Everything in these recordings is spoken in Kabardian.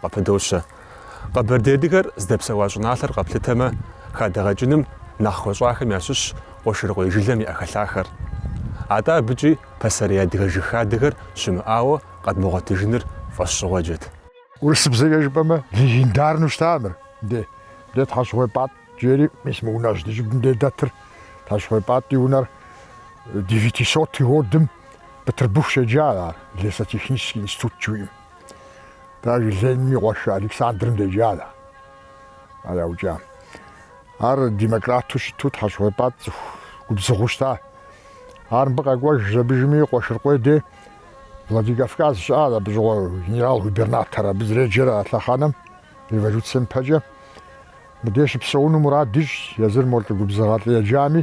Къыпыдощэ. Къэбэрдей адыгэр здэпсэуа щӏыналъэр къэплъытэмэ, хадэгъэкӏыным нэхъ хуэщӏахэм ящыщщ Къуэшырыкъуей жылэм и ӏэхэлъахэр. Атӏэ абыкӏи пасэрей адыгэ жыг хадэхэр щымыӏауэ къэдмыгъуэтыжыныр фӏэщщӏыгъуэджэт. Урысыбзэкӏэ жыпӏэмэ, легендарнэу щыта мыр. Дэ, дэ Тхьэщыгъуей Пӏатӏ жери, мис мы унэжь ди щӏыбым дей дэтыр. Тхьэщыгъуей Пӏатӏ и унэр девятисотый годым Бытырбыху щеджа ар, Лесотехнический институт жыхуиӏэм. Даже Лениным и къуэш Александрым деджа ар яукӏам. Ар демократу щыту Тхьэщыгъуей Пӏатӏ цӏыху губзыгъэу щыта. Ар мыбы къэкӏуэжа иужьми Къуэшыркъуей дей Владикавказ щыӏа абы щыгъуэ генерал-губернатор абы зэреджэр а лъэхъэнэм революцием пэкӏэ. Мыдей щыпсэуну мурад ищӏщ, езыр мо лӏы губзыгъэ лӏы еджами,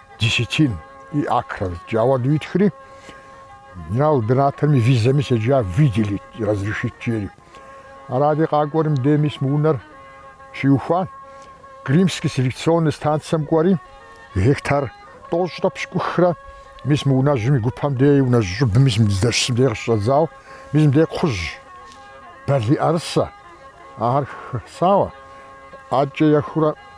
десятин и акрэ зыткӏэ ауэду итхри, генерал-губернаторым и визэми седжа, выделить и разрешить жери. Аради къакӏуэри мыдей мис мы унэр щиухуа, Крымский селекционный станцэм кӏуэри, гектар тӏощӏрэ пщыкӏухрэ мис мы унэжьым и гупэм дей и унэжь щӏыбым мис мы дыздэщысым дей къыщыщӏэдзау, мис мыдей кхъужь, балий, мыӏэрысэ ахэр хисауэ, ӏэкӏэ ехурэ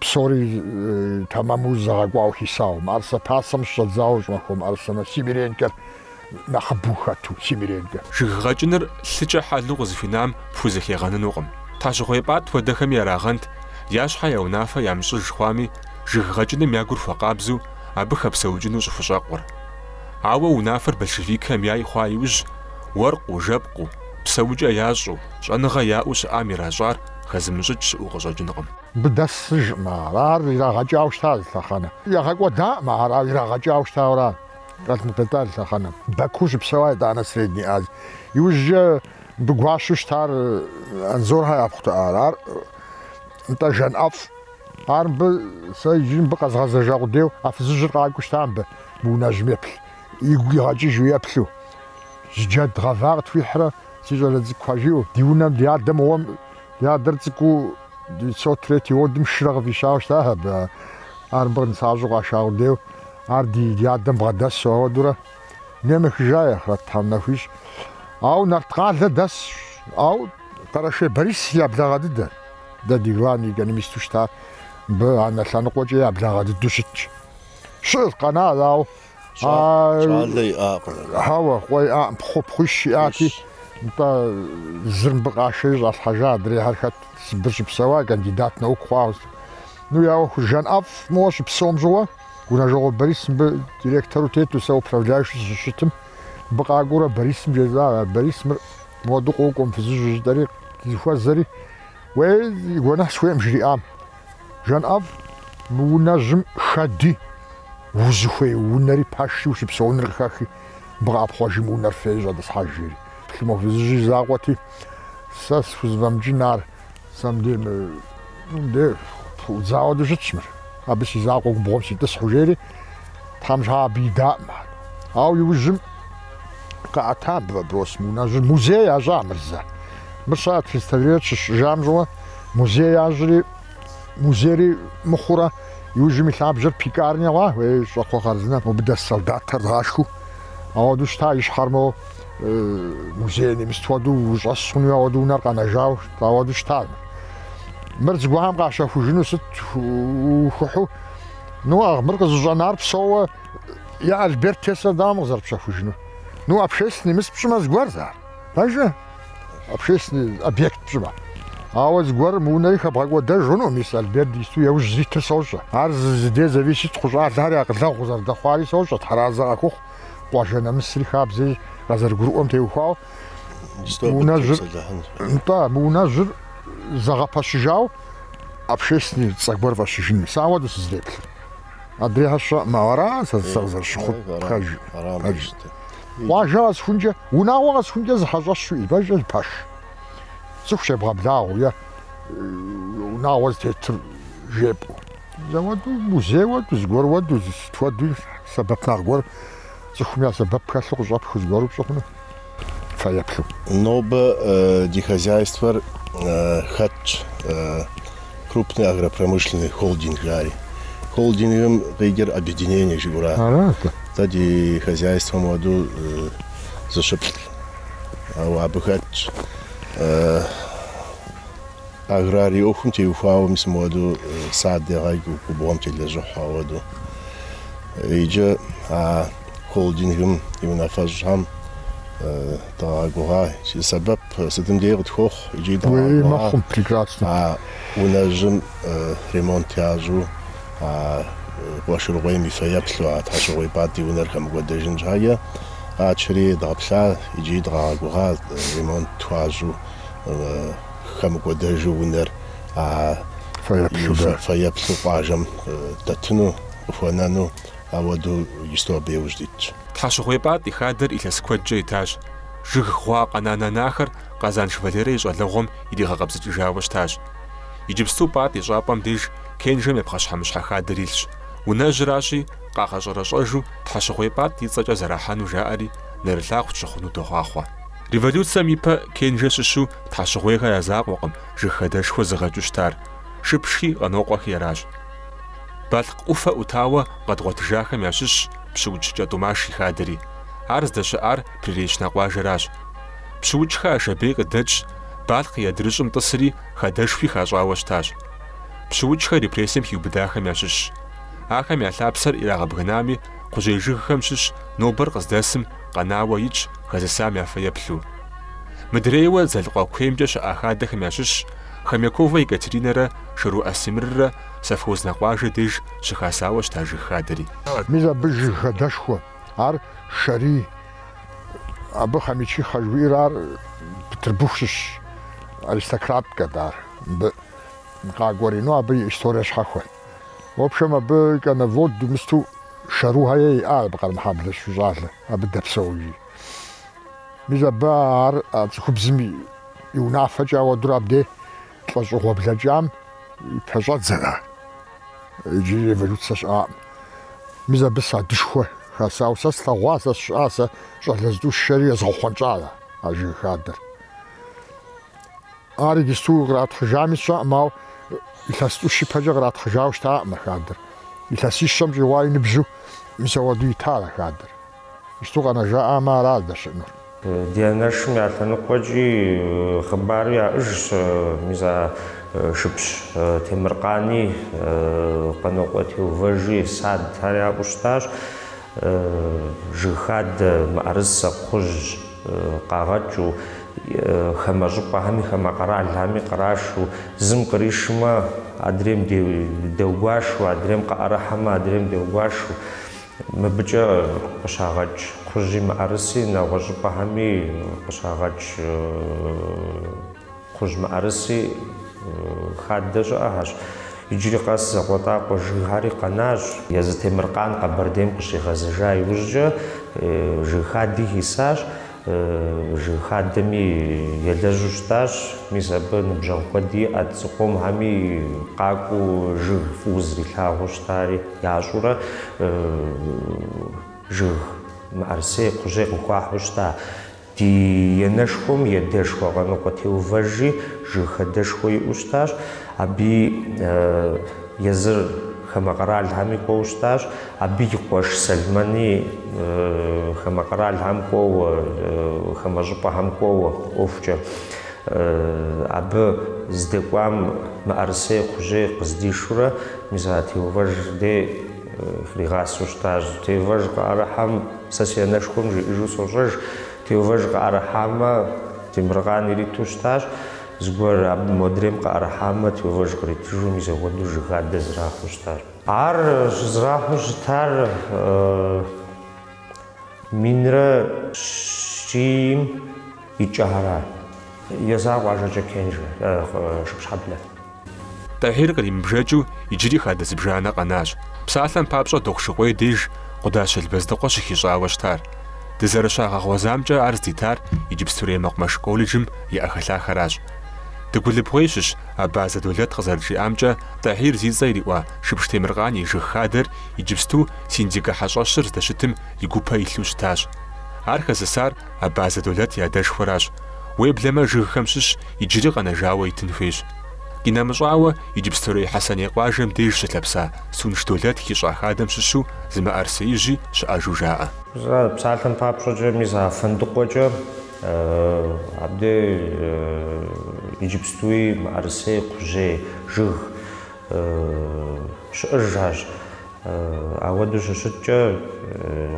Псори тэмэму зэгъэкӏуауэ хисауэ, мыӏэрысэ пасэм щыщӏэдзауэ щӏымахуэ мыӏэрысэм нэс Семиренкэр нэхъыбэу хэту, Семиренкэ. Жыг гъэкӏыныр лъыкӏэ хьэлу къызыхуинам пхузэхегъэнынукъым. Тхьэщыгъуей Пӏатӏ хуэдэхэми ярагъэнт, я щхьэ я унафэ ямыщӏыж хъуами, жыг гъэкӏыным я гур хуэкъабзэу абы хэпсэукӏыну щӏыхущӏэкъур. Ауэ унафэр большевикхэм яй хъуа иужь, уэркъыу, жэпкъыу, псэукӏэ ящӏу, щӏэныгъэ яӏэу щыӏам иращӏар хэзымыщӏыкӏ щыӏэу къыщӏэкӏынкъым. Мыбы дэсыжкъым ар, ар ирагъэкӏауэ щытащ зы лъэхъэнэ. Ягъэкӏуэдаӏым ар, ар ирагъэкӏауэ щытауэра къэлъмытэта зы лъэхъэнэм. Баку щыпсэуа итӏанэ Средней Азием. Иужькӏэ мыбы гуащэу щытар Анзорхэ япхъут ар, ар нтӏэ Жанӏэфӏ. Ар мыбы, сэ иджыри мыбы къэзгъэзэжа къудейуэ, а фызыжьыр къакӏуэу щыта мыбы, мы унэжьым еплъ, игу игъэкӏыжу еплъу. Зы джэд гъэва къытхуихьрэ, си щӏалэ цӏыкӏухэ жиӏэу, ди унэм, ди адэ мыгъуэм, ди адэр цӏыкӏуу. Девятьсот третий годым шырэ къыфӏищауэ щытащ абы. Ар мыбы нысащӏэу къаша къудейуэ, ар ди адэм бгъэдэсу ауэдэурэ. Дунейм ехыжа, и ахърэт Тхьэм нэху ищӏ. Ауэ Нарткъалэ дэсщ. Ауэ Къэрэшей Борис я благъэ дыдэт. Дэ ди главный экономисту щыта мыбы анэ лъэныкъуэкӏэ я благъэ дыдэу щытщ. Щыӏэщ къэна, ауэ Щӏалэ иӏакъым. Хьэуэ, къуэ иӏакъым, пхъу, пхъуищ иӏати, нтӏэ, зыр мыбы къашэри щӏалъхьэжа, адрейхьэр хэт, Сыбыр щыпсэуа, кандидат наук хъуауэ. Ну, я ӏуэхур Жанӏэфӏ моуэ щыпсэум щыгъуэ, Гъунэжьыкъуэ Борис мыбы директору тету, сэ управляющу сыщыщытым, мыбы къакӏуэурэ Борисым жесӏа, а Борис мыр моду къокӏуэм, фызыжьу жытӏэри, зыхуэзэри, уей, гуэныхь сыхуейкъым жриӏам. Жанӏэфӏ, мы унэжьым шэди, узыхуей унэри пэшри ущыпсэуныр къыхэхи, мыбы къэӏэпхъуэжи мы унэр феи щӏэтӏысхьэж, жери. Плъымэ, фызыжь и закъуэти, сэ схузэфӏэмыкӏын ар, сэ мыбдей, мыбдей пыӏудзауэ дыщытщ мыр, абы си закъуэ губгъуэм ситӏысхьу, жери. Тхьэм щхьа абы идаӏым ар. Ауэ иужьым къаӏэта вопрос мы унэжьыр музей ящӏа Мырзэ. Мыр щыӏэт физтеориет щыщӏыжам щыгъуэ музей ящӏри, музейри мыхъурэ иужьым и лъабжьэр пекарня хъуа, уей, щӏакхъуэ хъарзынэ мобы дэс солдатхэр дгъашхэу. Ауэдэу щыта и щхьэр моуэ музей немыст хуэдэу ущӏэс хъуну ауэдэу унэр къэнэжауэ ауэдэу щыта мыр. Мыр зыгуэрхэм къащэхужыну сыт ухухьу? Ну а мыр къызыщӏэнар псэууэ я Альберт Тесла дауэ къызэрыпщэхужыну? Ну общественный мыс пщӏымэ зыгуэрт ар. Пэжэ? Общественный объект пщӏымэ. Ауэ зыгуэр мы унэри хэбгъэкӏуэдэжыну, мис Альберт исту яужь зитыр сощӏэ. Ар зы зыде зависит хъу щӏалэхэри акъылэгъу къызэрыдэхъуари сощӏэ, тхьэразэ къахухъу, къуажэ нэмысри хабзэри къазэрыгурыӏуэм теухуауэ. Нтӏэ, мы унэжьыр зэгъэпэщыжауэ. общественный цӏэ гуэр фӏэщыжын сэ ауэду сызэреплъыр. Адрейхьэ сщӏэӏым, ара сэ сэ къызэрысщыхъур, пэж. Пэж. Къуажэ къэсхункӏэ, унагъуэ къэсхункӏэ зы хьэщӏэщу ивэжыр зы пэш. Цӏыху щебгъэблагъэу е унагъуэ зытетыр жепӏэу. Ауэду, музей уэду, зыгуэр уэду, сыт хуэдуи сэбэп нэхъ гуэр, цӏыхум я сэбэп хэлъу къыщӏэпхыу зыгуэру пщӏы хъуну фэеплъу. Нобэ ди хозяйствэр хэтщ крупный агропромышленный холдинг жари. Холдингым къикӏыр объединение жиӏэуращ. Арат. Дэ ди хозяйствэм уэду зыщыплӏ, ауэ абы хэтщ. Аграрий ӏуэхум теухуауэ мис мыуэду сад егъэкӏ губгъуэм телэжьыхьу ауэду. Иджы а холдингым и унафэщӏхэм дыкъагъэгугъа, я сэбэп сытым дей къытхуохъу икӏи дыкъагъэгугъа а унэжьым ремонт ящӏу, а Къуэшыргъуейм и фэеплъу, а Тхьэщыгъуей Пӏат и унэр хэмыкӏуэдэжын щхьэкӏэ къэтшэри дгъэплъа икӏи дыкъагъэгугъа ремонт хуащӏу. хэмыкӏуэдэжу унэр а фэеплъу къуажэм дэтыну къыхуэнэну ауэду иджысту абы иужь дитщ. Тхьэщыгъуей Пӏат и хадэр илъэс куэдкӏэ итащ. Жыг гъуа къэнананахэр Къазанш Валерэ и щӏалэгъуэм иригъэкъэбзыкӏыжауэ щытащ. Иджыпсту Пӏат и щӏапӏэм деж Кенжэм и пхъэщхьэмыщхьэ хадэр илъщ. Унэжьыращи, къагъэщӏэрэщӏэжу Тхьэщыгъуей Пӏат и цӏэкӏэ зэрахьэну жаӏэри, нэрылъагъу тщыхъуну дохъуахъуэ. Революцием ипэ Кенжэ щыщу Тхьэщыгъуейхэр я закъуэкъым жыг хадэшхуэ зыгъэкӏыу щытар, Шыпшхи Къанокъуэхи аращ. Балъкъ ӏуфэ ӏутауэ къэдгъуэтыжахэм ящыщщ Пщыукӏ Кӏэтӏумаш и хадэри. Ар здэщыӏар Приречнэ къуажэращ. Пщыукӏхэ Ашабей къыдэкӏщ, Балъкъ и адрыщӏым тӏысри хадэшхуи хащӏауэ щытащ. Пщыукӏхэр репрессием хиубыдахэм ящыщщ. Ахэм я лъапсэр ирагъэбгынами, кхъужьей жыгхэм щыщ нобэр къыздэсым къэнауэ итщ хэзысам я фэеплъу. Мыдрейуэ Дзэлыкъуэ куеймкӏэ щыӏа хадэхэм ящыщщ Хомяковэ Екатеринэрэ Шэру Асимррэ Совхознэ къуажэ деж щыхасауэ щыта жыг хадэри. Мис абы жыг хадэшхуэ, ар Шэри, абы Хомячихэ жыхуиӏэр, ар Петербург щыщ аристократкэт, ар мыбы къакӏуэри, ну абы и историе щхьэхуэ. В общем, абы коневоду мысту Шэрухэ ей иӏа абы Къэрмэхьэблэ щыщу щӏалэ, абы дэпсэужи. Мис абы ар а цӏыхубзым и унафэкӏэ ауэдурэ абде лӏэщӏыгъуэ блэкӏам и пэщӏэдзэра иджыри революцэ щыӏакъым. Мис абы садышхуэ хасауэ сэ слъэгъуа, сэ сщыӏа, сэ щӏалэ зытӏу сшэри езгъэхъунщӏара а жыг хадэр. Ар иджысту къратхьыжами сщӏэкъым, ауэ илъэс тӏущ ипэкӏэ къратхьыжауэ щытакъым а хадэр. Илъэсищэм щӏигъуа и ныбжьу мис ауэду итар а хадэр. Иджысту къэнэжаӏамэ, ара здэщыӏэнур. Ди анэшым я лъэныкъуэкӏи хъыбару яӏыжщ, мис а Шыпш Темыркъани Къанокъуэ Теувэжи, сад, ар яӏэу щытащ. Жыг хадэ, мыӏэрысэ, кхъужь къагъэкӏыу, хамэ щӏыпӏэхэми хамэ къэралхэми кърашу, зым къришмэ, адрейм деугуашу, адрейм къыӏэрыхьэмэ, адрейм деугуашу. Мыбыкӏэ къыщагъэкӏ кхъужьи мыӏэрыси, нэгъуэщӏ щӏыпӏэхэми къыщагъэкӏ. Кхъужь мыӏэрыси хадэ щыӏэхэщ. Иджыри къэс закъуэтӏакъуэ жыгхэри къэнащ. Езы Темыркъан Къэбэрдейм къыщигъэзэжа иужькӏэ жыг хади хисащ. Жыг хадэми елэжьу щытащ. Мис абы ныбжьэгъу куэди иӏэт, цӏыху къомхэми къакӏуэу жыг фӏыуэ зэрилъагъуу щытари ящӏурэ жыг мыӏэрысей, кхъужьей къыхуахьу щыта. Ди енэшхуэм едэшхуэ Къаныкъуэ Теувэжи жыг хадэшхуэ иӏэу щытащ. Абы езыр хамэ къэралхэми кӏуэу щытащ. Абы и къуэш Сэлмэни хамэ къэралхэм кӏуэуэ, хамэ щӏыпӏэхэм кӏуэуэ ӏуэхукӏэ. Абы здэкӏуам мыӏэрысей кхъужьей къыздишурэ, мис а Теувэж дей хригъасэу щытащ. Теувэж къыӏэрыхьэм Сэ си анэшхуэм жиӏэжу сощӏэж, Теувэж къыӏэрыхьамэ, Темыркъан ириту щытащ, зыгуэр абы модрейм къыӏэрыхьамэ, Теувэж къритыжу мис апхуэдэу жыг хадэ зэрахьэу щытащ. Ар щызэрахьэу щытар минрэ щийм и кӏэ ара? Езыр къуажэкӏэ Кенжэ, Шыпщхьэблэ. Тӏэхьир къримыбжэкӏыу иджыри хадэ зыбжанэ къэнащ. Псалъэм папщӏэ Дохъушыкъуей деж Къудащ Елбэздыкъуэ щыхищӏауэ щытар. Дызэрыщагъэгъуэзамкӏэ ар здитар иджыпстурей мэкъумэш колледжым и ӏэхэлъахэращ. Дыгулыбгъуей щыщ Абазэ Долэт къызэрыджиӏамкӏэ, Тӏэхьир зи цӏэ ириӏуа Шыпш Темыркъан и жыг хадэр иджыпсту Синдикэ хьэщӏэщыр здэщытым и гупэ илъу щытащ. Ар хэзысар Абазэ Долэт и адэшхуэращ. Уеблэмэ, жыгхэм щыщ иджыри къэнэжауэ итын хуейщ. Къинэмыщӏауэ, иджыпстурей Хьэсэней къуажэм деж щылъэпса Сунш Долэт хищӏа хадэм щыщу зы мыӏэрысеижьи щыӏэжу жаӏэ. Псалъэм папщӏэкӏэ, мис а Фэндыкъуэкӏэ абдей иджыпстуи мыӏэрысей, кхъужьей жыг щыӏэжащ. Ауэдэу щыщыткӏэ,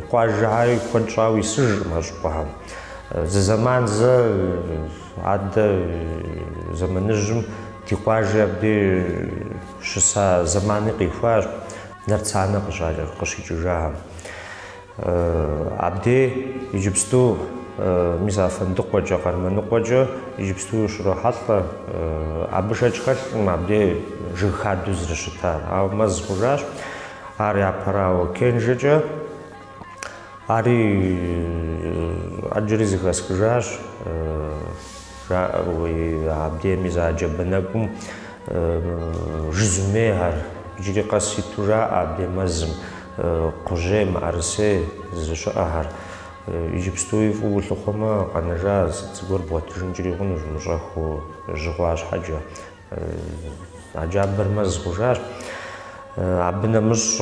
къуажэхьэри куэд щӏауэ исыжкъым а щӏыпӏэхэм. Зы зэман зэ адэ зэманыжьым ди къуажэ абдей щыса зэмани къихуащ, Нарцанэ къыщ, къыщикӏыжахэм. Абдей иджыпсту мис а Фэндыкъуэкӏэ, Къармэныкъуэкӏэ иджыпсту ущрохьэлӏэ. Абы шэч хэлъкъым абдей жыг хадэу зэрыщытар, ауэ мэз хъужащ. Ар япэрауэ Кенжэкӏэ ари ӏэджэри зыхэсхыжащ жаӏэуи, абдей мис а джабэ нэкӏум жызумейхэр иджыри къэс иту жаӏэ абдей мэзым. Кхъужьей, мыӏэрысей зыщыӏэхэр. Иджыпстуи фӏыуэ улъыхъуэмэ, къэнэжа сыт зыгуэр бгъуэтыжынкӏри хъунущ, мыщӏэхыу жьы хъуа щхьэкӏэ. А джабэр мэз хъужащ. Абы нэмыщӏ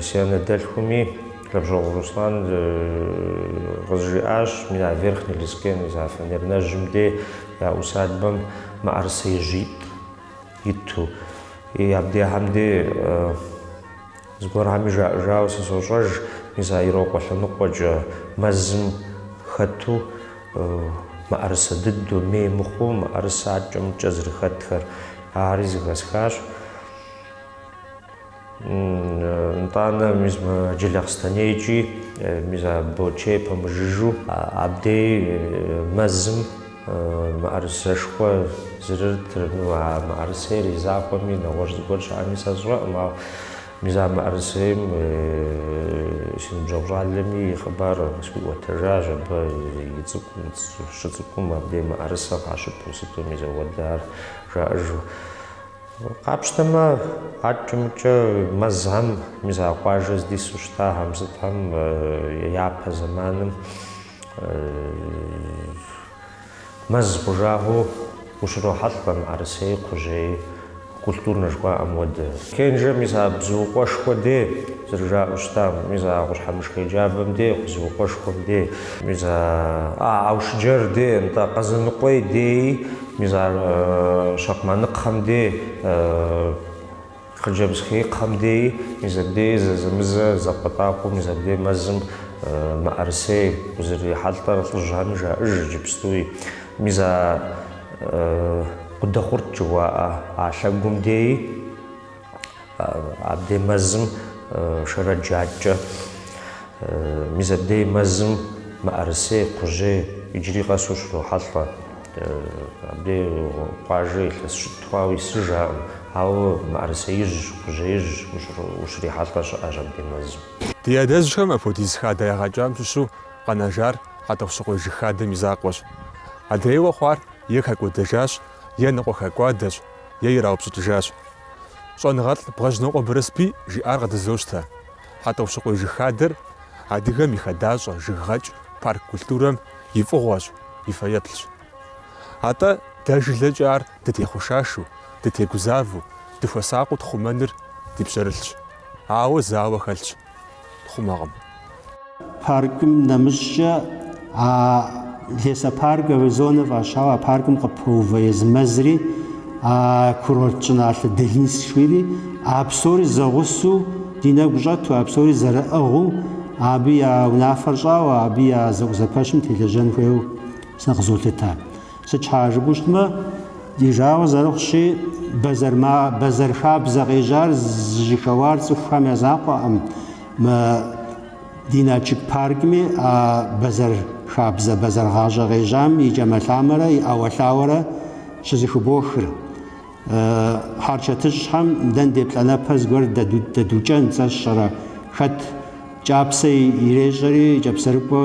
си анэдэлъхуми, Лэбжьэгъу Руслан къызжиӏащ, мина Верхний Лескен, мис а Фанернэжьым дей я усадьбэм мыӏэрысеижьитӏ. иту. И абдехэм де зыгуэрхэми жаӏэжауэ сызощӏэж, мис а Ирокъуэ лъэныкъуэкӏэ мэзым хэту мыӏэрысэ дыду, мей мыхъуу мыӏэрысэ аткӏэ-мыткӏэ зэрыхэтхэр, ари зыхэсхащ. Нтӏанэ мис мы Джылахъстэнейкӏи мис а Бочей пэмыжыжу абдей мэзым мыӏэрысэшхуэ зэрытыр. Ну, а мыӏэрысейр и закъуэми нэгъуэщӏ зыгуэр щыӏэми сэ сщӏэкъым, ауэ мис а мыӏэрысейм си ныбжьэгъу щӏалэми и хъыбар къысхуиӏуэтэжащ, абы и цӏыкӏум, щыцӏыкӏум абдей мыӏэрысэ къащыпу сыту мис ауэдэ ар жаӏэжу. Къапщтэмэ, аткӏэ-мыткӏэ мэзхэм мис а къуажэ здису щытахэм сытхэм япэ зэманым мэз хъужагъэу ущрохьэлӏэ мыӏэрысей, кхъужьей, культурнэ жыхуаӏэм хуэдэ. Кенжэ мис а бзуукъуэшхуэ дей зэрыжаӏэу щытам, мис а къущхьэмышхей джабэм дей, бзуукъуэшхуэм дей, мис а Аушыджэр дей, нтӏэ, Къэзэныкъуей деи, Мис а Щакъмэныкъхэм дей, Хъыджэбзхеикъхэм деи, мис абдеи зэзэмызэ закъуэтӏакъуэу мис абдей мэзым мыӏэрысей узэрырихьэлӏэр лӏыжьхэми жаӏэж иджыпстуи. Мис а Къудэхъурт жыхуаӏэ а лъэгум деи. Абдей мэзым Шэрэдж адкӏэ, мис абдей мэзым мыӏэрысей, кхъужьей иджыри къэс ущрохьэлӏэ. Абдей къуажэ илъэс щитӏ хъуауэ исыжаӏым, ауэ мыӏэрысеижьщ, кхъужьеижьщ ущрихьэлӏэ щыӏэщ абдей мэзым. Ди адэжьхэм апхуэдиз хадэ ягъэкӏам щыщу къэнэжар Хьэтӏохъущыкъуей жыг хадэм и закъуэщ. Адрейуэ хъуар е хэкӏуэдэжащ, е ныкъуэ хэкӏуадэщ. е ираупщӏыкӏыжащ. Щӏэныгъэлӏ Бгъэжьнокъуэ Барэсбий жиӏар къыдызощтэ, Хьэтӏохъущыкъуей жыг хадэр адыгэм и хадащӏэ, жыггъэкӏ, парк культурэм и фӏыгъуэщ, и фэеплъщ. Атӏэ дэ жылэкӏэ ар дытехъушашу, дытегузавэу, дыхуэсакъыу тхъумэныр ди пщэрылъщ. Ауэ зы ауэ хэлъщ. хъумэкъым. Паркым нэмыщӏкӏэ а лесопарковэ зонэ фӏащауэ а паркым къыпэува езы мэзри, а курорт щӏыналъэ Долинск жыхуиӏэри, а псори зэгъусэу ди нэгу щӏэту, а псори зэрыӏыгъыу, абы я унафэр щӏауэ, абы я зэӏузэпэщым телэжьэн хуейуэ сэ къызолъытэ. Сыт щхьэ жыпӏэу щытмэ, ди жагъуэ зэрыхъущи, бэзэр хабзэ къежьар зыжьыхэуар цӏыхухэм я закъуэкъым. Мы ди Налшык паркми а бэзэр хабзэ, бэзэр гъащӏэ къежьам и кӏэмэлъамэрэ и ӏэуэлъауэрэ щызэхыбохыр. Хьэрычэтыщӏэхэм дэнде плӏанэпэ зыгуэр дэдукӏэн, сэ сщӏэрэ, хэт кӏапсэ ирещӏэри, кӏапсэрыкӏуэ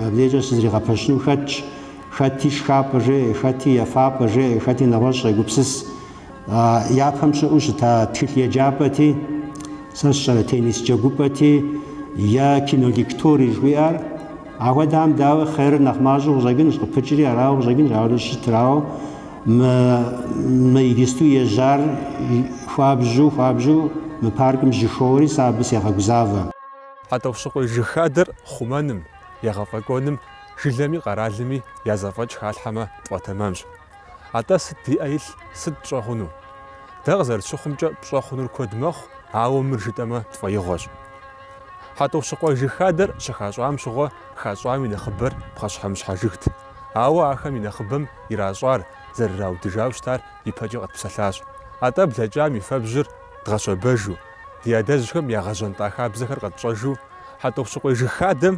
абдежкӏэ щызригъэпэщыну хэтщ. Хэти шхапӏэ жеӏэ, хэти ефапӏэ жеӏэ, хэти нэгъуэщӏ щӏегупсыс. Япэм щыӏэу щыта тхылъ еджапӏэти, сэ сщӏэрэ теннис джэгупӏэти е кинолектори жыхуиӏэр, ахуэдэхэм дауи хъерыр нэхъ мащӏэу къыщӏэкӏынущ, къыпыкӏри арауэ къыщӏэкӏынущ, ауэ щӏыщытыр, ауэ мы, мы иджысту ежьар хуабжьу, хуабжьу мы паркым жьыхоуэри сэ абы сегъэгузавэ. Хьэтӏохъущыкъуей жыг хадэр хъумэным, егъэфӏэкӏуэным Жылэми къэралми я зэфӏэкӏ халъхьэмэ, тфӏэтэмэмщ. Атӏэ сыт ди ӏэ илъ, сыт пщӏэ хъуну? Дэ къызэрытщыхъумкӏэ, пщӏэ хъунур куэд мэхъу, ауэ мыр жытӏэмэ, тфӏэигъуэщ. Хьэтӏохъущыкъуэ жыг хадэр щыхащӏам щыгъуэ хащӏам и нэхъыбэр пхъэщхьэмыщхьэ жыгт, ауэ ахэм и нэхъыбэм иращӏар, зэрыраудыжау щытар ипэкӏэ къэтпсэлъащ. Атӏэ блэкӏам и фэбжьыр дгъэщэбэжу, ди адэжьхэм ягъэжьэнтӏа хабзэхэр къэтщӏэжу, Хьэтӏохъущыкъуей жыг хадэм,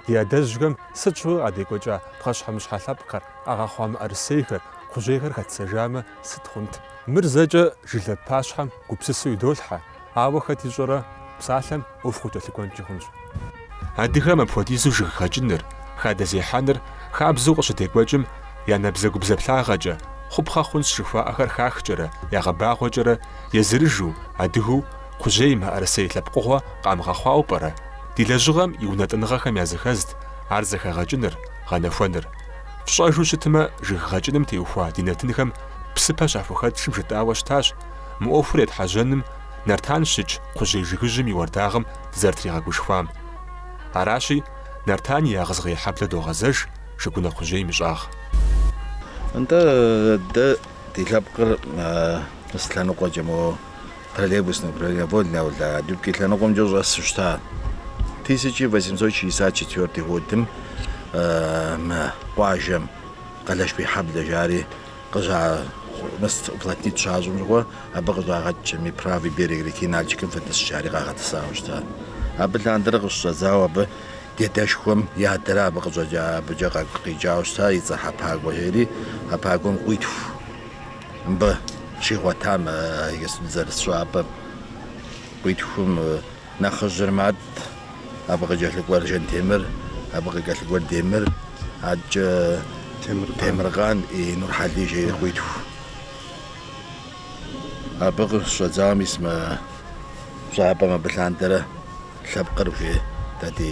Ди адэжьхэм сыт щыгъуи къадекӏуэкӏа пхъэщхьэмыщхьэ лъэпкъхэр, къагъэхъуа мыӏэрысейхэр, кхъужьейхэр хэтсэжамэ, сыт хъунт? Мыр зэкӏэ жылэ пащхьэм гупсысэу идолъхьэ, ауэ хэт ищӏэрэ, псалъэм ӏуэху къыкӏэлъыкӏуэнкӏи хъунщ. Адыгэм апхуэдизу жыг гъэкӏыныр, хадэ зехьэныр хабзэу къыщыдекӏуэкӏым я набдзэгубдзаплъагъэкӏэ, хъупхъэ хъунщ жыхуаӏэхэр хахкӏэрэ, ягъэбагъуэкӏэрэ езырыжу, адыгэу, Кхъужьей мыӏэрысей лъэпкъыгъуэ къамыгъэхъуауэ пӏэрэ? Ди лэжьыгъэм и унэтӏыныгъэхэм языхэзт ар зэхэгъэкӏыныр, гъэнэхуэныр. Фщӏэжу щытмэ, жыг гъэкӏыным теухуа ди нэтынхэм псыпэ щахухэтшым жытӏауэ щытащ мы ӏуэхур етхьэжьэным Нартан щыкӏ кхъужьей жыгыжьым и уардагъым дызэрытригъэгушхуам. Аращи, Нартан и Ягъызгъей хьэблэ догъэзэж Жыгунэ кхъужьейм и щӏагъ. Нтӏэ, дэ ди лъэпкъыр мыс лъэныкъуэкӏэ мо Троллейбусный управление Вольный Аул Дубки лъэныкъуэмкӏэ щӏэсу щыта. Тысяча восемьсот шестьдесят четвертый годым мы къуажэм Къылышбийхьэблэ жари къыща мыс уплотнить щащӏым щыгъуэ абы къыщӏагъэкӏкӏэми правый берег реки Нальчикым фытӏыс жари къагъэтӏысауэ щыта. Абы лъандэрэ къыщыщӏэдзауэ абы ди адэшхуэм и адэрэ абы къыщӏэкӏа абыкӏэ къэкӏу къикӏауэ щыта и цӏэ Хьэпагуэ жери, Хьэпагуэм къуитху. мыбы щигъуэтам иджыпсту дызэрыс щӏапӏэм къуитхум нэхъыжьыр Мат, абы къыкӏэлъыкӏуэр Жэнтемыр, абы къыкӏэлъыкӏуэр Демыр, адэкӏэ Темыркъан и Нурхьэлий жери къуитху. Абы къыщыщӏэдзауэ мис мы щӏапӏэм абы лъандэрэ лъэпкъыр хужеӏэ ди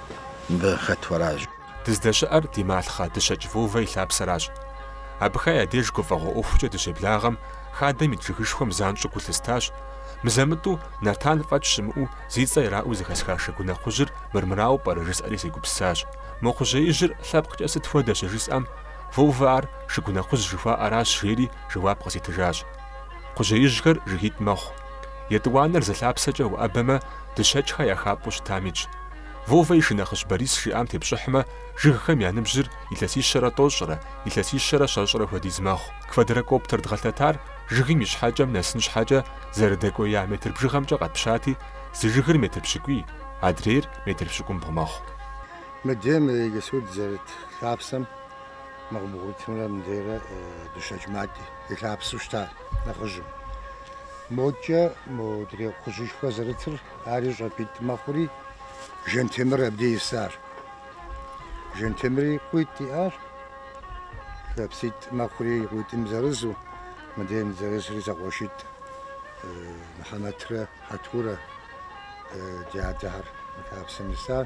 Мыбы хэт уэращ. Дыздэщыӏэр ди малъхъэ Дыщэкӏ Вовэ и лъапсэращ. Абыхэ я деж гуфӏэгъуэ ӏуэхукӏэ дыщеблагъэм, хадэм ит жыгышхуэм занщӏэу гу лъыстащ, мызэ-мытӏу Нартан фӏэкӏ щымыӏэу зи цӏэ ираӏуэу зэхэсха Шыгунэ кхъужьыр мырмырауэ пӏэрэ жысӏэри сегупсысащ. Мо кхъужьеижьыр лъэпкъкӏэ сыт хуэдэ щыжысӏэм, Вовэ ар Шыгунэ кхъужь жыхуаӏэращ жери жэуап къызитыжащ. Кхъужьеижьхэр жыгитӏ мэхъу. Етӏуанэр зы лъапсэкӏэ уӏэбэмэ, Дыщэкӏхэ я хапӏэу щытам итщ. Вовэ и шынэхъыщӏ Борис жиӏам тепщӏыхьмэ, жыгхэм я ныбжьыр илъэсищэрэ тӏощӏрэ, илъэсищэрэ щэщӏрэ хуэдиз мэхъу. Квадрокоптер дгъэлъэтар жыгым и щхьэкӏэм нэсын щхьэкӏэ зэрыдэкӏуея метр бжыгъэмкӏэ къэтпщати, зы жыгыр метр пщыкӏуий, адрейр метр пщыкӏумбгъу мэхъу. Мыдейм иджыпсту дызэрыт лъапсэм мэгъубгъуитымрэ мыдейрэ Дыщэкӏ Мат и лъапсэу щыта нэхъыжьым. Мокӏэ модрей кхъужьышхуэ зэрытыр Ари щӏапӏитӏ мэхъури, Жэнтемыр абдей исар. Жэнтемри къуитӏ иӏащ, лъапситӏ мэхъури, и къуитӏым зырызу, мыдейм зырызри зэкъуэшитӏ Мыхьэмэтрэ Хьэтурэ ди адэхэр мы лъапсэм исар.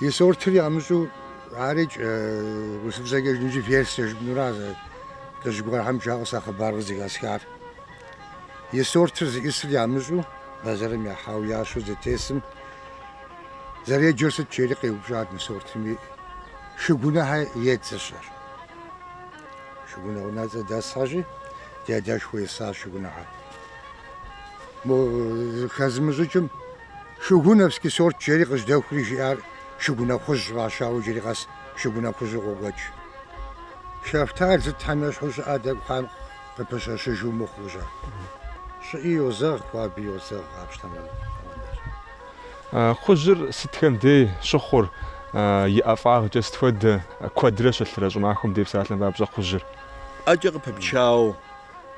И сортыр ямыщӏу арикӏ, урысыбзэкӏэ жыпӏэмкӏи версие жыпӏэнура зы лӏыжь гуэрхэм жаӏэу сэ хъыбар къызэхэсхар. И сортыр зищӏысыр ямыщӏу бэзэрым яхьауэ ящу зытесым зэреджэр сыт жери къеупщӏат мы сортым. Шыгунэхьэ едзэщ ар. Шыгунэ унэцӏэ дэсхьэщи, ди адэшхуэ исащ шыгунэхьэ. Мо хэзымыщӏыкӏым Шыгунэвский сорт жери къыжьдэхури жиӏар Шыгунэ хъужь фӏащауэ иджыри къэс Шыгунэ хъужьу къокӏуэкӏ. Шэфтал сытхьэм ещхьу щӏыӏэ тӏэкӏу хъуам къыпыщэщыжу мыхъуу жа. Щӏыӏи йозэгъ, хуаби йозэгъ, къапщтэмэ хуэдэщ. Хъужьыр сытхэм дей щыхъур, и ӏэфӏагъкӏэ сыт хуэдэ? Куэдрэ щылъырэ щӏымахуэм дей псалъэм папщӏэ хъужьыр. ӏэкӏэ къыпыпчауэ.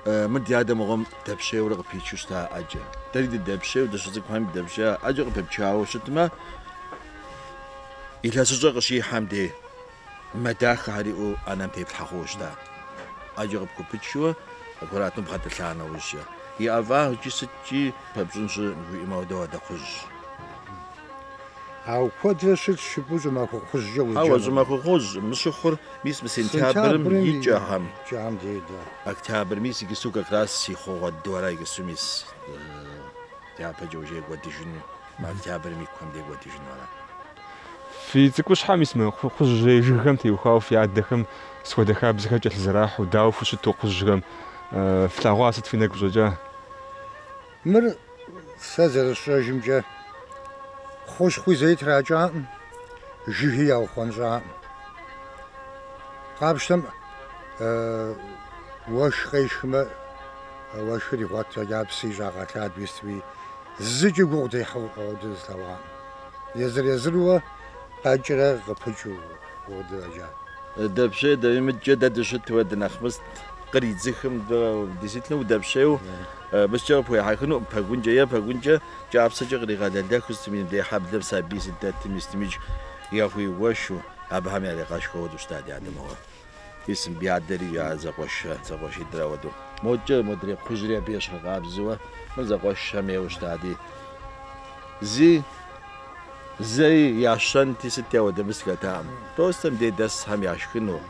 Мы ди адэ мыгъуэм дэпщейуэрэ къыпичу щыта ӏэкӏэ. Дэри дыдэпщейуэ, дыщыцӏыкӏухэм дыдэпщея ӏэкӏэ къыпыпчауэ щытмэ, илъэсыщӏэ къыщихьэм де мэ дахэхэр иӏэу ӏэнэм теплъхьэ хъууэ щыта. ӏэкӏэ къыпхупычуэ, аккуратно бгъэтӏылъа нэужькӏэ, и ӏэфӏагъкӏи сыткӏи пэпщӏын щымыӏэм хуэдэу апхуэдэ хъужьщ. Ауэ куэдрэ щылъщ жыпӏэу щӏымахуэ хъужькӏэ узэджэнур. Ауэ щӏымахуэ хъужь мы щыхъур мис мы сентябрым и кӏэхэм. Кӏэхэм дей, да. Октябрь мис иджыпсту как раз и хъугъуэ дыдэра иджыпсту мис дяпэкӏэ уже кӏуэдыжыну, мы октябрым и кум дей кӏуэдыжыну ара? Фи цӏыкӏущхьэм мис мы хъужьей жыгхэм теухуауэ фи адэхэм сыт хуэдэ хабзэхэр кӏэлъызэрахьэу, дауэ фыщыту хъужьхэм флъэгъуа сыт фи нэгу щӏэкӏа? Мыр сэ зэрысщӏэжымкӏэ хущхъуи зэи тракӏакъым, жыги яухъуэнщӏакъым. Къапщтэм уэшх къешхмэ, уэшхыр игъуэт фӏэкӏа псы щӏагъэлъадэуи сытуи, зыкӏи гугъу дехьу ауэду слъэгъуакъым. Езыр-езыруэ къэкӏрэ къыпыкӏэу ауэду фӏэкӏа. Дэпщей дэ мыдкӏэ дэ дыщытуэ дынэхъ мыст, къридзыхым, действительно, удэпщейу. Абыкӏэ къыпхуехьэхынукъым пэгункӏэ е пэгункӏэ кӏапсэкӏэ къригъэлэлэху сытым и дей хьэблэм сабий зыдэтым и стымидж яхуиугуэшу, абыхэм яригъэшхыу уэду щыта ди адэ мыгъуэр. И сым ди адэри я зэкъуэш зэкъуэшитӏрэ уэду. Модкӏэ модрей кхъужьри абы ещхьыркъабзэуэ мыр зэкъуэшхэм ейуэ щытати. Зи зэи ящэнти сыти ауэдэ мыс хэтакъым. Простэ мыдей дэсхэм яшхыну.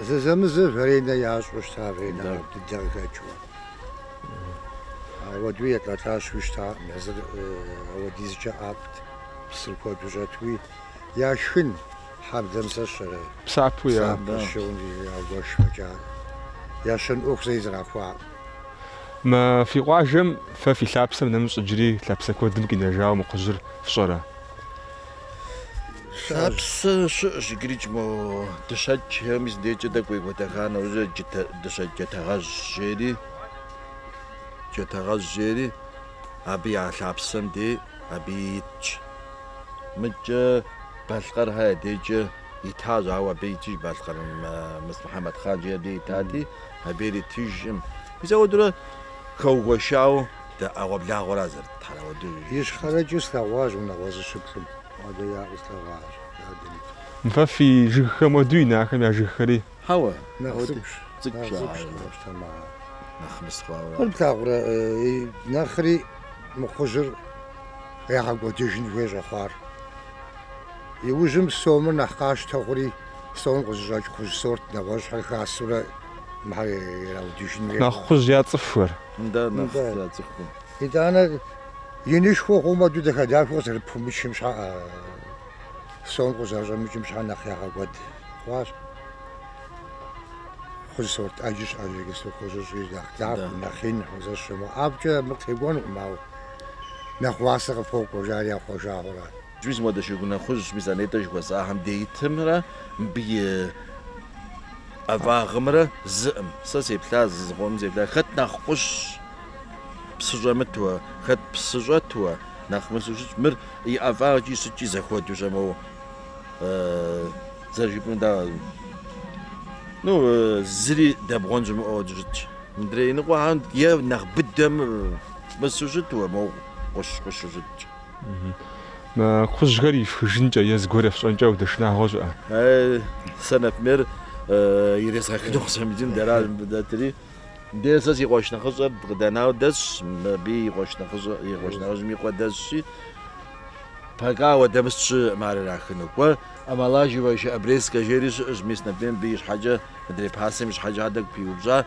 Зэзэмызэ варенэ ящӏу щыта, варенэ дыдэ къыхэкӏыу. Ауэду елӏэлӏащэуи щытакъым, езыр ауэдизкӏэ ӏэфӏт, псыр куэду щӏэтуи, яшхын, хьэблэм сэ сщӏэрэ, псапэ сщыгъын жиӏэри яугуэш фӏэкӏа, ящэн ӏуэху зэи зэрахуакъым. Мы фи къуажэм фэ фи лъапсэм нэмыщӏ иджыри лъапсэ куэдым къинэжауэ мы хъужьыр фщӏэрэ? Лъапсэ щыӏэщ иджыри мо Дыщэкӏхэ мис дейкӏэ дэкӏуей гуэдэха нэужьэ Дыщэкӏ Джатэгъэжь жери Джатэгъэжь жери абы я лъапсэм дей абы итщ. Мыдкӏэ Балъкъэрхэ дейкӏэ итащ, ауэ абы итыж Балъкъэр Мыс Мухьэмэд хъан жери абы итати, абы ари итыжкъым. Мис ауэдурэ хэугуэшауэ Дэ ӏэгъуэблагъуэра зэрытхэр ауэду жиӏащ. Ищхъэрэкӏэ слъэгъуащ унагъуэ зыщыплӏым. Адэ яӏэу слъэгъуащ, дадэ ит. Фэ фи жыгхэм уэду ин ахэм я жыгхэри. Хьэуэ, нэхъ цӏыкӏущ, нэхъ цӏыкӏущ къапщтэмэ ар. Нэхъ мыс хъуауэ. Мыр плъагъурэ, нэхъри мы хъужьыр ягъэкӏуэдыжын хуей щӏэхъуар. Иужьым сомыр нэхъ къащтэ хъури, сом къызыщӏэкӏ хъужь сорт нэгъуэщӏхэр хасэурэ мыхэр ираудыжын хуей хъуащ. Нэхъ хъужь я цӏыхухэр. Нтӏэ, нэхъ Нтӏэ. яцӏыху. Итӏанэ инышхуэ хъумэ, уэду дахэ-дахэу къызэрыпхуэмычым щхьа, а, сом къызэрыщӏэмыкӏым щхьа нэхъ ягъэкӏуэд хъуащ. Кхъужь сорт ӏэджи щыӏэщ иджы кхъужьыщӏи, нэхъ Да. дахэ, нэхъ ин, хъузэщэ. Мо ӏэфӏкӏэ абы къытекӏуэнукъым, ауэ нэхъ уасэ къыпокӏуэ, жари яхъуэжауэ ара. Иджы зы модэ шыгунэ кхъужь мис нетӏэ жыхуэсӏахэм дей итымрэ мыбы и ӏэфӏагъымрэ зыӏым. Сэ сеплъа, зы зыкъомым сеплъа, хэт нэхъ гъущэщ, псы щӏэмытуэ, хэт псы щӏэтуэ, нэхъ мысу щытщ, мыр и ӏэфӏагъкӏи сыткӏи зэхуэдущ моуэ. Зэрыжыпӏэну да, ну, зыри дэбгъуэн щымыӏэу щытщ. Мыдрей иныкъуэхэм е нэхъ быдэм мысу щытуэ, мо гъущэ-гъущэу щытщ. Кхъужьхэр ихыжынкӏэ е зыгуэр ефщӏэнкӏэ уэдэ шынагъуэ щыӏэ? Сэ например, ирезгъэхыну къысфӏэмыдин дара дэтри, де сэ си къуэш нэхъыщӏэр къыдэнауэ дэсщ, абы и къуэш нэхъыщӏэ, и къуэш нэхъыжьым и къуэ дэсщи, пока ауэдэ мыст щыӏым ар ирахыну. Кӏуэ, омолаживающая обрезка жери щыӏэщ, мис, например, мыбы и щхьэкӏэ, мыдрей пасэм и щхьэкӏэ ар тӏэкӏу пиупщӏа,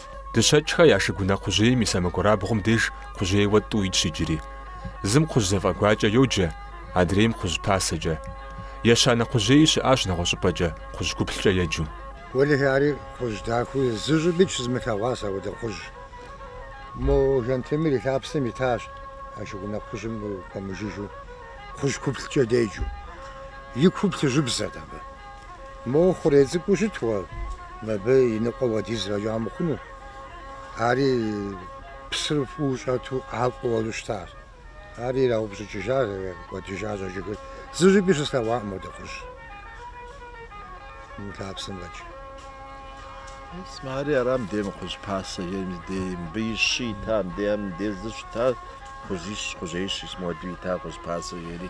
Дыщэкӏхэ я шыгунэ кхъужьейм и сэмэгурабгъум деж кхъужьейуэ тӏу итщ иджыри. Зым кхъужь зэфӏэгуакӏэ йоджэ, адрейм кхъужь пасэкӏэ. Ещанэ кхъужьеи щыӏащ нэгъуэщӏыпӏэкӏэ, кхъужь куплъкӏэ еджэу. Уэлэхьи, ари кхъужь дахэу зы щӏыпӏи щызмылъэгъуащ апхуэдэ кхъужь. Мо Жантемыр и лъапсэм итащ а шыгунэ кхъужьым пэмыжыжьу, кхъужь куплъкӏэ деджэу. И ку плъыжьыбзэт абы. Моуэ хъурей цӏыкӏуу щытуэ, мыбы и ныкъуэ уэдиз фӏэкӏа мыхъуну. Ари псыр фӏыуэ щӏэту ӏэфӏу уэзу щытащ. Ар ираупщӏыкӏыжащ, кӏуэдыжащ а жыгыр. Зы щӏыпӏи щыслъэгъуакъым мо уэдэ кхъужь мы лъапсэм фӏэкӏ. Исмэ, ари ара мыдей мы кхъужь пасэ е мыдей, мыбы и щы ита, мыдей, ар мыдей зы щытащ, кхъужьищ, кхъужьеищ, исмуэду ита кхъужь пасэ ери.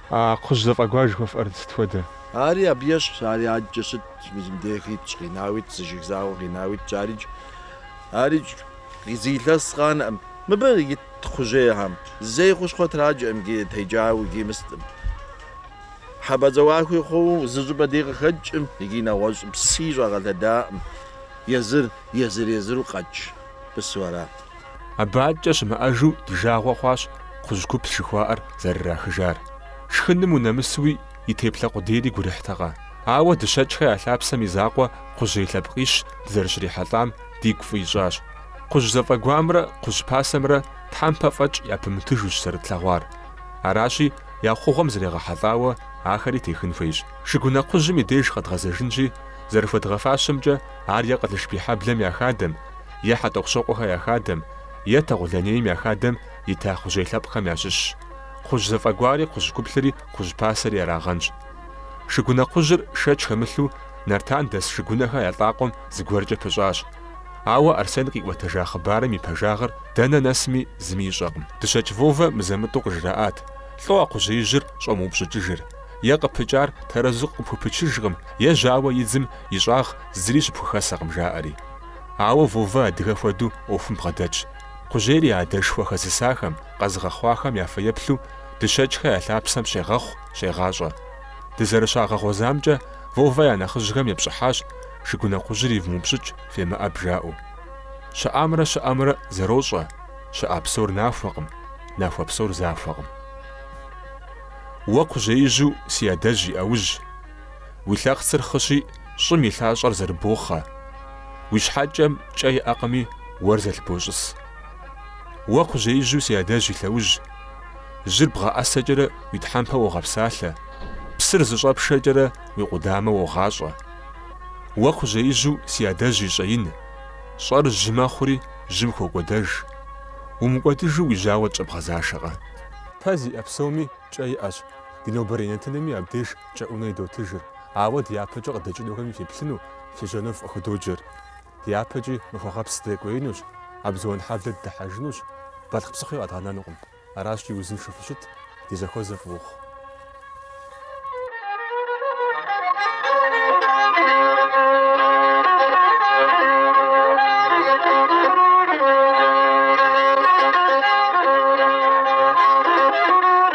А кхъужь зэфӏэгуар жыхуэфӏэр сыт хуэдэ? Ари абы ещхьщ, ари адэкӏэ щытт, мис мыбдеж итщ, къинауэ итщ, зы жыг закъуэ къинауэ итщ, арикӏ, арикӏ, зы илъэс къанэкъым. Мыбы ит кхъужьейхэм зэи хущхъуэ тракӏэкъым, икӏи текӏауэ, икӏи мыстӏым. Хьэпӏацӏэ ӏуэхуи хъууэ зы щӏыпӏэ дей къыхэкӏкъым икӏи нэгъуэщӏ пси щӏагъэлъэдакъым, езыр, езыр-езыру къэкӏыпсу арат. Абы адэкӏэ щымыӏэжу ди жагъуэ хъуащ кхъужь куплъ жыхуаӏэр зэрырахыжар. Шхыным унэмысуи, и теплъэ къудейри гурыхьтэкъэ. Ауэ Дыщэкӏхэ я лъапсэм и закъуэ кхъужьей лъэпкъищ дызэрыщрихьэлӏам дигу фӏы ищӏащ. Кхъужь зэфӏэгуамрэ кхъужь пасэмрэ тхьэмпэ фӏэкӏ япымытыжущ зэрытлъэгъуар. Аращи, я хъугъуэм зрегъэхьэлӏауэ ахэри техын хуейщ. Шыгунэ кхъужьым и деж къэдгъэзэжынщи, зэрыхуэдгъэфащэмкӏэ ар е Къылышбийхьэблэм я хадэм, е Хьэтӏохъущокъуэхэ я хадэм, е Тэгъулэнейм я хадэм ита кхъужьей лъэпкъхэм ящыщщ. Кхъужь зэфӏэгуари кхъужь куплъри кхъужь пасэри ярагъэнщ. Шыгунэ кхъужьыр шэч хэмылъу Нартан дэс Шыгунэхэ я лӏакъуэм зыгуэркӏэ пыщӏащ. Ауэ Арсен къиӏуэтэжа хъыбарым и пэжагъыр дэнэ нэсми зыми ищӏэкъым. Дыщэкӏ Вовэ мызэ-мытӏу къыжраӏат, лӏо а кхъужьеижьыр щӏомыупщӏыкӏыжыр, е къыпыкӏар тэрэзу къыпхупычыжкъым, е жьауэ идзым и щӏагъ зыри щыпхухэсэкъым жаӏэри. Ауэ Вовэ адыгэ хуэдэу ӏуэхум бгъэдэтщ. Кхъужьейр я адэшхуэ хэзысахэм, къэзыгъэхъуахэм я фэеплъу, Дыщэкӏхэ я лъапсэм щегъэхъу, щегъащӏэ. Дызэрыщагъэгъуэзамкӏэ, Вовэ я нэхъыжьхэм епщӏыхьащ Шыгунэ кхъужьыр ивмыупщӏыкӏ, фемыӏэб жаӏэу. Щыӏамрэ щыӏэмрэ зэрощӏэ, щыӏа псор нахуэкъым, нахуэ псор захуэкъым. Уэ кхъужьеижьу си адэжь и ӏэужь. Уи лъэхъцыр хъыщи, щӏым и лъащӏэр зэрыбохъэ. Уи щхьэкӏэм кӏэ иӏэкъыми, уэр зэлъыбощӏыс. Уэ кхъужьеижьу си адэжь и лъэужь. Жьыр бгъэӏэсэкӏэрэ уи тхьэмпэ уогъэпсалъэ, псыр зыщӏэпшэкӏэрэ уи къудамэ уогъащӏэ. Уэ кхъужьеижьу си адэжь и щӏэин. Щӏэр жьы мэхъури, жьым хокӏуэдэж. Умыкӏуэдыжу уи жьауэ тщӏэбгъэзашэкъэ? Пэ зиӏэ псоми кӏэ иӏэщ, ди нобэрей нэтынми абдеж Кӏэӏунэ идотыжыр, ауэ дяпэкӏэ къыдэкӏынухэми феплъыну фежьэну фыкъыхудоджэр. Дяпэкӏи Махуэгъэпс дыдэкӏуеинущ, Абзуан хьэблэ дыдыхьэжынущ, Балъкъ псыхъуи къэдгъэнэнукъым. Аращи, узыншэу фыщыт, ди зэхуэзэ фӏы ухъу.